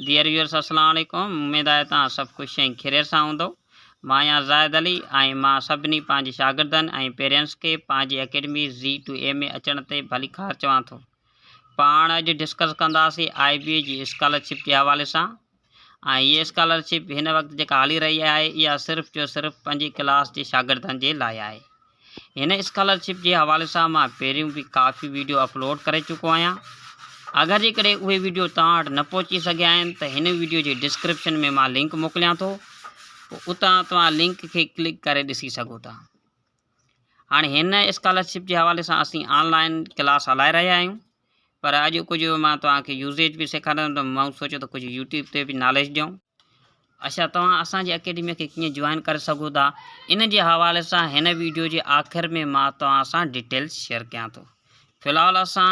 Dear viewers السلام عليڪم اميد آهي توهان سڀ خوش ۽ خيريت سان هوندؤ مان آهيان زاهد علي ۽ مان سڀني پنهنجي شاگردن ۽ پيرينٽس کي پنهنجي اڪيڊمي زي ٽو اي ۾ اچڻ تي ڀليڪار چوان ٿو پاڻ اڄ ڊسڪس ڪنداسين آئي بي اي جي اسڪالرشپ جي حوالي سان ۽ هيء اسڪالرشپ هن وقت جيڪا هلي رهي آهي اها صرف جو صرف پنجين ڪلاس جي شاگردن جي لاء آهي هن اسڪالرشپ جي حوالي سان مان پهريون به ڪافي ويڊيو اپلوڊ ڪري چڪو آهيان اگر جيڪڏهن اهي ويڊيو توهان وٽ نه پهچي سگهيا آهن ته هن ويڊيو جي ڊسڪرپشن ۾ مان لنڪ موڪليان ٿو پوء اتان توهان لنڪ کي ڪلڪ ڪري ڏسي سگهو ٿا هاڻي هن اسڪالرشپ جي حوالي سان اسين آن لائن ڪلاس هلائي رهيا آهيون پر اڄ ڪجهه مان توهان کي يوزيج به سيکاريندم ته مون سوچيو ته ڪجهه يوٽيوب تي به ناليج ڏيون. اڇا توهان اسان جي اڪيڊميء کي ڪيئن جوائن ڪري سگهو ٿا ان جي حوالي سان هن ويڊيو جي آخر ۾ مان توهان سان ڊيٽيلز شيئر ڪيان ٿو في الحال اسان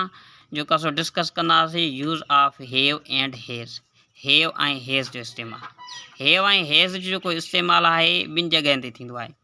جو ڪسو ڊسڪس ڪنداسين use of have and has have ۽ has جو استعمال هيو ۽ هيز جو جيڪو استعمال آهي ٻن جڳهين تي ٿيندو آهي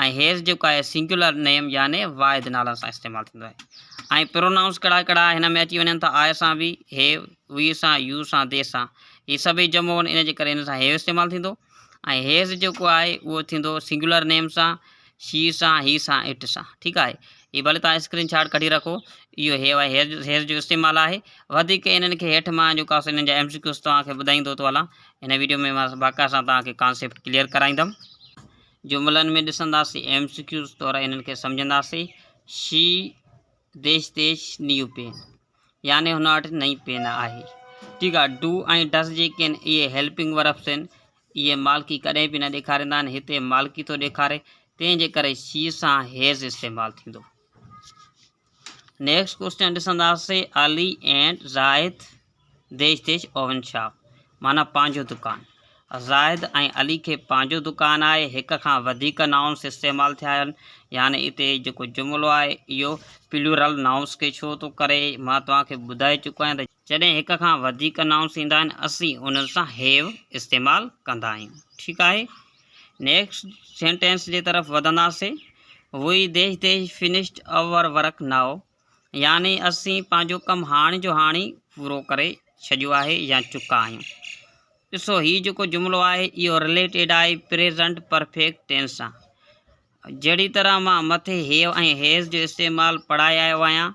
۽ هيز جيڪو آهي سنگيولر نيم يعني واحد نالن سان استعمال ٿيندو آهي ۽ پرونائونس ڪهڙا ڪهڙا هن ۾ اچي وڃن ٿا، آء سان وي، هي، وي سان، يو سان، دي سان، هي سڀئي جمع هون ان جي ڪري هن سان هيو استعمال ٿيندو ۽ هيز جيڪو آهي اهو ٿيندو سنگيولر نيم سان، شي سان، هي سان، اٽ سان، ٺيڪ آهي هي ڀلي توهان اسڪرين شاٽ ڪڍي رکو اهو هيو ۽ هيز جو استعمال آهي وڌيڪ انهن کي هيٺ مان جيڪا انهن جا ايم سي ڪيوز توهان کي ٻڌائيندو ٿو هلان هن ويڊيو ۾ مان باقاعده سان توهان کي ڪانسيپٽ ڪليئر ڪرائيندم. جملن ۾ ڏسنداسين ايم سي ڪيوز طور انهن کي سمجهنداسين، شي ديش ديش نيو پين يعني هن وٽ نئين پين آهي. ٺيڪ آهي ڊو ۽ ڊز جيڪي آهن اهي هيلپنگ وربس آهن اهي مالڪي ڪڏهن به نه ڏيکاريندا آهن هتي مالڪي ٿو ڏيکاري تنهن جي ڪري شي سان هيز استعمال ٿيندو. نيڪسٽ ڪوئسچن ڏسنداسين علي اينڊ زاهد ديش ديش اوون شاپ معنيٰ پنهنجو دڪان زاهد ۽ علي کي پنهنجو دڪان آهي هڪ کان وڌيڪ نائونس استعمال ٿيا آهن يعني اتي جيڪو جملو آهي اهو پليورل نائونس کي شو ٿو ڪري مان توهان کي ٻڌائي چڪو آهيان ته جڏهن هڪ کان وڌيڪ نائونس ايندا آهن اسين انهن سان هيو استعمال ڪندا آهيون ٺيڪ آهي نيڪسٽ سينٽينس جي طرف وڌنداسين وي ديش ديش فنشڊ اوور ورڪ نائو يعني اسين پنهنجو ڪم هاڻي جو هاڻي پورو ڪري ڇڏيو آهي يا چڪا آهيون ڏسو هي جيڪو جملو آهي اهو رليٽيڊ آهي پريزنٽ پرفيڪٽ ٽينس سان جهڙي طرح مان مٿي هيو ۽ هيز جو استعمال پڙهائي آيو آهيان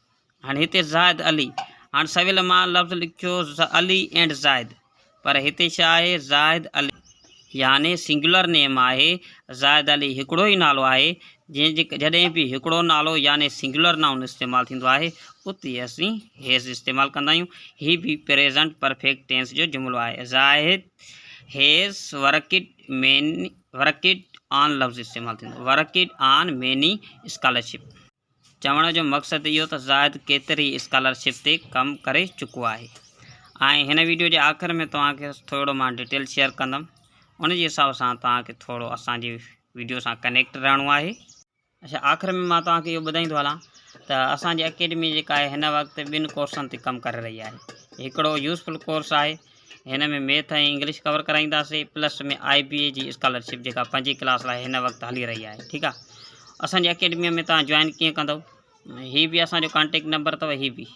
هاڻي هتي زاهد علي هاڻ سويل مان لفظ لکيو علي اينڊ زاهد پر هتي ڇا آهي زاهد علي يعني سنگيولر نيم آهي زاهد علي هڪڙو ئي نالو آهي جنهن جي جڏهن به هڪڙو نالو يعني سنگيولر نائون استعمال ٿيندو آهي اتي اسين هيز استعمال ڪندا آهيون هي به پريزنٽ پرفيڪٽ ٽينس جو جملو آهي Zahid has worked man worked on لفظ استعمال ٿيندو ورڪڊ آن ميني اسڪالرشپ چوڻ جو مقصد اهو ته زاهد ڪيتري اسڪالرشپ تي ڪم ڪري چڪو آهي ۽ هن ويڊيو جي آخر ۾ توهان کي ٿورڙو مان ڊيٽيل شيئر ڪندم ان جي حساب سان توهان کي ٿورڙو اسان جي ويڊيو سان ڪنيڪٽ رهڻو آهي اڇا آخر ۾ مان توهان کي اهو ٻڌائيندو هلان ته اسان جي اڪيڊمي جيڪا آهي هن وقت ٻن ڪورسن تي ڪم ڪري رهي آهي هڪڙو يوزفل ڪورس آهي هن ۾ ميٿ ۽ انگلش ڪور ڪرائينداسين پلس ۾ آئي بي اي جي اسڪالرشپ جيڪا پنجين ڪلاس لاء هن وقت هلي رهي آهي ٺيڪ آهي اسان جي اڪيڊميء ۾ توهان جوائن ڪيئن ڪندو هي به اسان جو ڪانٽيڪٽ نمبر اٿو هي به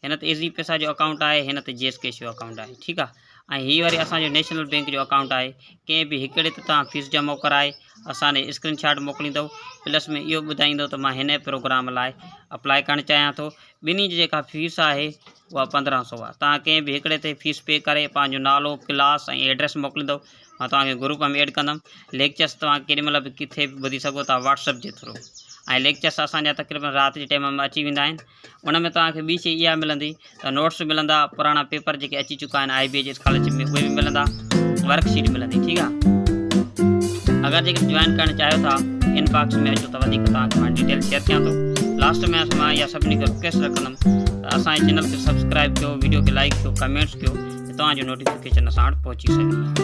هن ته ايزي پيسا جو اڪائونٽ آهي هن ته جي ايس ڪيش جو اڪائونٽ آهي ٺيڪ آهي ۽ هي وري اسان جو نيشنل بينڪ جو اڪائونٽ آهي ڪنهن به هڪڙي ته توهان فيس جمع ڪرائي اسان ڏي اسڪرين شاٽ موڪليندو پلس ۾ اهو ٻڌائيندو ته مان هن پروگرام لاء اپلائي ڪرڻ چاهيان ٿو ٻنهي جي جيڪا فيس آهي اها پندرهن سو آهي توهان ڪنهن به هڪڙي تي فيس پي ڪري پنهنجو نالو ڪلاس ۽ ايڊريس موڪليندو مان توهان کي گروپ ۾ ايڊ ڪندم ليڪچرس توهان ڪيڏي مهل به ڪٿي به ٻڌي سگهو ٿا واٽس اپ جي ٿرو ۽ ليڪچرس اسان جا تقريبن رات جي ٽيم ۾ اچي ويندا آهن ان ۾ توهان کي ٻي شي اها ملندي ته نوٽس ملندا پراڻا پيپر جيڪي اچي چڪا آهن آئي بي جي اسڪالرشپ ۾ اهي به ملندا ورڪ شيٽ ملندي ٺيڪ آ اگر جي جوائن ڪرڻ چاهيو ٿا ان باڪس ۾ اچو ته وڌيڪ توهان کي مان ڊيٽيل شيئر ڪيان ٿو لاسٽ ۾ اسان يا سڀني کي رڪويسٽ رکندم ته اسان جي چينل کي سبسڪرائب ڪيو ويڊيو کي لائڪ ڪيو ڪمينٽس ڪيو ته توهان جو نوٽيفڪيشن اسان وٽ پهچي سگهي